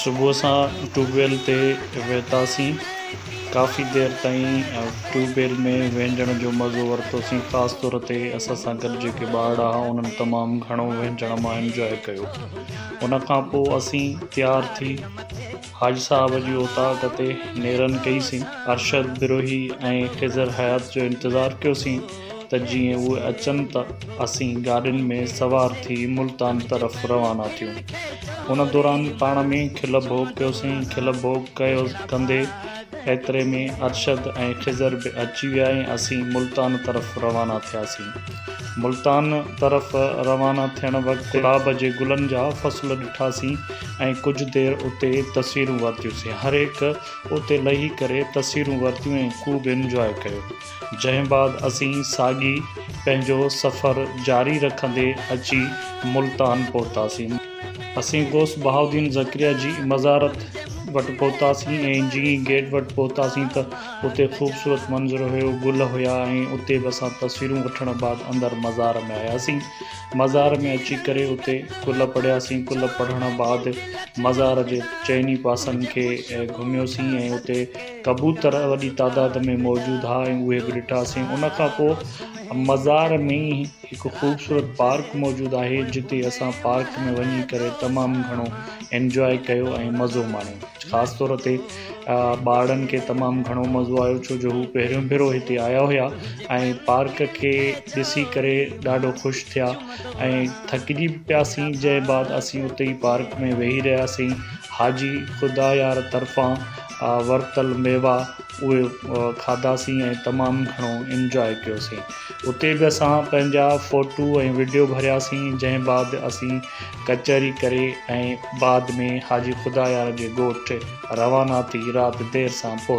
صبح اسان tube well تي ويتاسين ڪافي دير تائين ٽيوب ويل ۾ وهنجڻ جو مزو ورتوسين خاص طور تي اسان سان گڏ جيڪي ٻارڙا ها انهن تمام گهڻو وهنجڻ مان انجوائي ڪيو ان کانپوء اسين تيار ٿي حاجي صاحب جي اوطاق تي نيرن ڪئي سين. ارشد بروهي ۽ خضر حيات جو انتظار ڪيو سين ته جيئن اهي اچن ته اسين گاڏين ۾ سوار ٿي ملتان طرف روانا ٿيون. ان دوران پاڻ ۾ کل ڀوڳ ڪيو سين. کل ڀوڳ ڪيو ڪندي ايتري ۾ ارشد ۽ خضر به اچي ويا ۽ اسين ملتان طرف روانا ٿيا سين. ملتان طرف روانا ٿيڻ وقت گلاب جي گلن جا فصل ڏٺا سين. ۽ ڪجهه دير اتي تصويرون ورتيونسين هر هڪ اتي لهي ڪري تصويرون ورتيون ۽ خوب انجواء ڪيو جنهن بعد اسين ساڳي پنهنجو سفر جاري رکندي اچي ملتان پهتاسين. اسين غوث بهاؤالدين ذڪريا جي مزارت وٽ پهتاسين ۽ جئين ئي گيٽ وٽ پهتاسين ته اتي خوبصورت منظر هيو گل هيا ۽ اتي به اسان تصويرون وٺڻ بعد اندر مزار ۾ آياسين مزار ۾ اچي ڪري اتي ڪل پڙهياسين، ڪل پڙهڻ بعد مزار جي چئني پاسن کي گهميوسين ۽ اتي ڪبوتر وڏي تعداد ۾ موجود ها ۽ اهي به ڏٺاسين، ان کان پوء مزار ۾ ئي هڪ خوبصورت پارڪ موجود آهي جتي اسان پارڪ ۾ وڃي ڪري تمام گهڻو انجواء ڪيو ۽ مزو ماڻيو خاص طور تي ٻارڙن کي تمام گهڻو مزو آيو ڇو جو هو پهريون ڀيرو هتي آيا هيا ۽ پارڪ کي ڏسي ڪري ڏاڍو خوش ٿيا ۽ ٿڪجي به پيا سين جنهن بعد اسين اتي ئي پارڪ ۾ ويهي رهياسين حاجي خدايار طرفان ورتل ميوا اهي کاڌاسين ۽ تمام گهڻو انجواء ڪيوسين اتي به اسان پنهنجا فوٽو ۽ وڊيو ڀرياسين جنهن بعد اسين ڪچهري ڪري ۽ بعد ۾ حاجي خدايار جي ڳوٺ روانا ٿي رات دير سان پهتو.